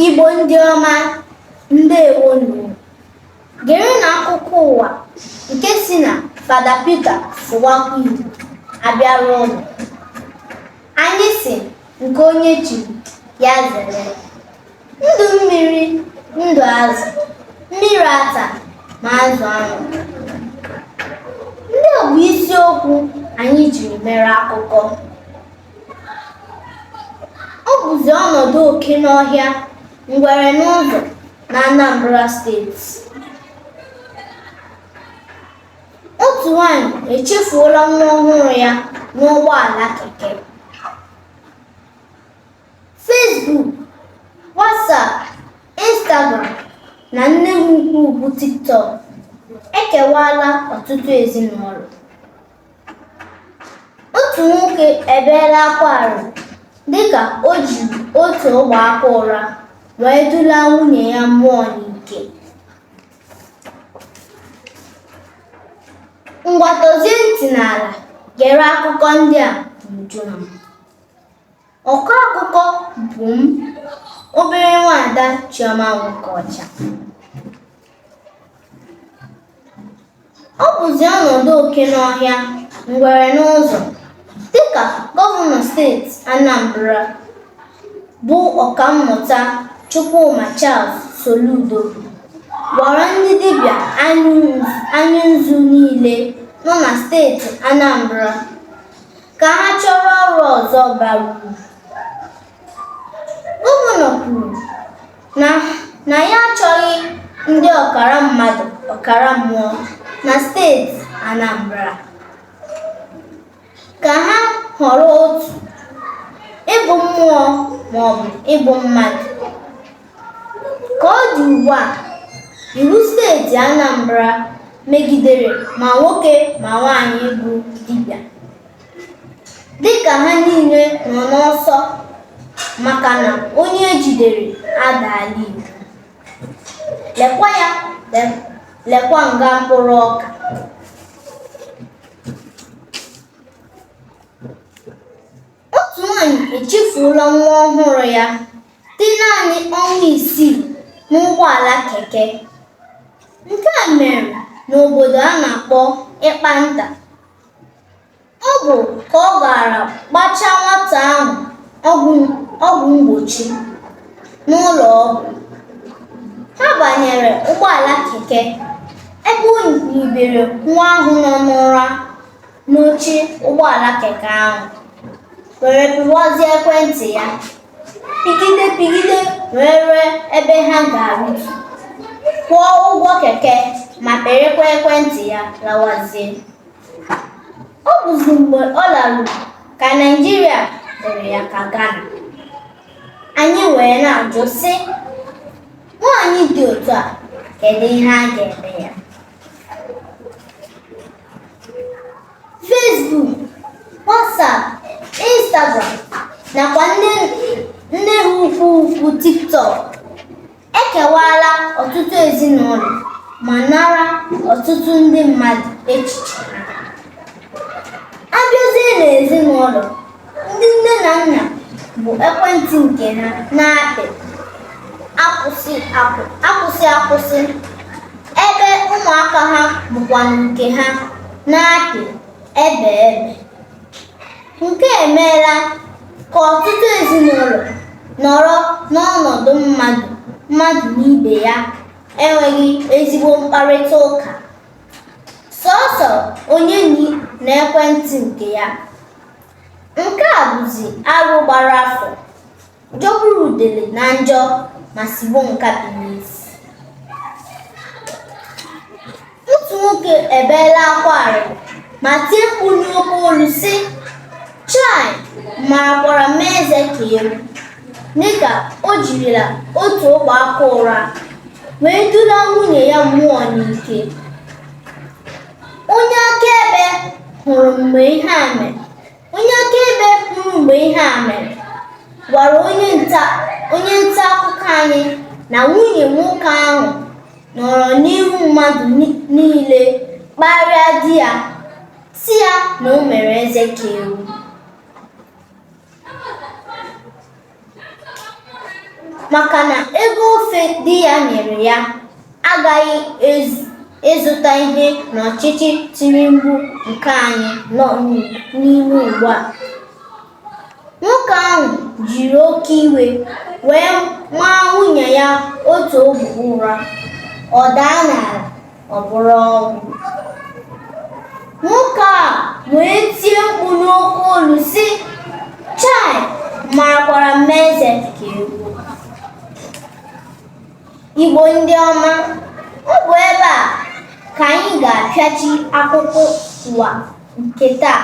Igbo ndị ọma ndewonu gerenụ akụkọ ụwa nke si na Fada Peter Sụwakwa Igbo abịara ụnụ anyị si nke onye chiri ya zere ndụ mmiri ndụ azụ mmiri ata ma azụ anwụ ndị a bụ isiokwu anyị jiri mere akụkọ Ọ bụzi ọnọdụ oke n'ọhịa ngwere n'ụzọ na Anambra steeti. Otu nwanyị echefuola nwa ọhụrụ ya n'ụgbọala keke. Facebook, WhatsApp, Instagram na nne m ukwu bụ TikTok ekewaala ọtụtụ ezinụlọ. otu nwoke ebeela akwa arịrị dịka o jiri otu ogbe aka ụra wee dula nwunye ya mmụọ n'ike ngwa dozie ntị n'ala gere akụkọ ndị a n'uju ha ọkọ akụkọ bụ m obere nwaada Chioma Nwokocha ọ bụzi ọnọdụ oke n'ọhịa ngwere n'ụzọ dịka gọvanọ steeti Anambra bụ ọkammụta Chukwuma Charles Soludo gwara ndị dibịa anya nzu niile nọ na steeti Anambra ka ha chọrọ ọrụ ọzọ bara uru gọvanọ kwuru na ya achọghị ndị ọkara mmadụ ọkara mmụọ na steeti Anambra ka ha họrọ otu ịbụ mmụọ maọbụ ịbụ mmadụ ka ọ dị ugbu a iwu steeti Anambra megidere ma nwoke ma nwaanyị bụ dibịa dịka ha niile nọ n'ọsọ maka na onye ejidere adaala iwu lekwa ya lekwa nga mkpụrụ ọka otu nwanyị echefuola nwa ọhụrụ ya dị naanị ọnwa isii n'ụgbọala keke nke a mere n'obodo a na-akpọ Ịkpanta ọ bụ ka ọ gara gbachaa nwata ahụ ọgwụ mgbochi n'ụlọ ọgwụ ha banyere ụgbọala keke ebe o nyibere nwa ahụ nọ n'ụra n'oche ụgbọala keke ahụ were pịwazie ekwentị ya pigide pigide wee rue ebe ha ga-arụtu kwụọ ụgwọ keke ma pịrịkwa ekwentị ya lawazie ọ bụzi mgbe ọ laruru ka naijiria dịịrị ya ka ghana anyị wee na-ajụ sị nwaanyị dị otu a kedu ihe a ga-eme ya Facebook, WhatsApp, Instagram nakwa nne ha ukwu ukwu TikTok ekewaala ọtụtụ ezinụlọ ma nara ọtụtụ ndị mmadụ echiche ha. A bịazie n'ezinụlọ ndị nne na nna bụ ekwentị nke ha na-apị akwụsị akwụ akwụsị akwụsị ebe ụmụaka ha bụkwa nke ha na-apị ebe ebe nke a emeela ka ọtụtụ ezinụlọ nọrọ n'ọnọdụ mmadụ mmadụ na ibe ya enweghị ezigbo mkparịta ụka sọọsọ onye na ekwentị nke ya nke a bụzi arụ gbara afọ jọgburu udele na njọ ma sigbo nkapi n'isi otu nwoke ebeela akwa arịrị ma tie mkpu n'oke olu sị chai marakwara mee eze ka ewu Dịka o jirila otu ogbe aka ụra wee dula nwunye ya mmụọ n'ike. Onye akaebe hụrụ mgbe ihe a mere onye akaebe hụrụ mgbe ihe a mere gwara onye nta onye nta akụkọ anyị na nwunye nwoke ahụ nọrọ n'ihu mmadụ ni- niile kparịa di ya sị ya na o mere eze ka ewu maka na ego ofe di ya nyere ya agaghị ịzụta ihe n'ọchịchị tinubu nke anyị nọ n'ime ugbu a nwoke ahụ jiri oke iwe wee maa nwunye ya otu ogbe ụra ọ daa n'ala ọ bụrụ ọnwụ nwoke a wee tie mkpu n'oke olu sị chai marakwara mee eze ka ewu igbo ndị ọma ọ bụ ebe a ka anyị ga-apịachi akụkọ ụwa nke taa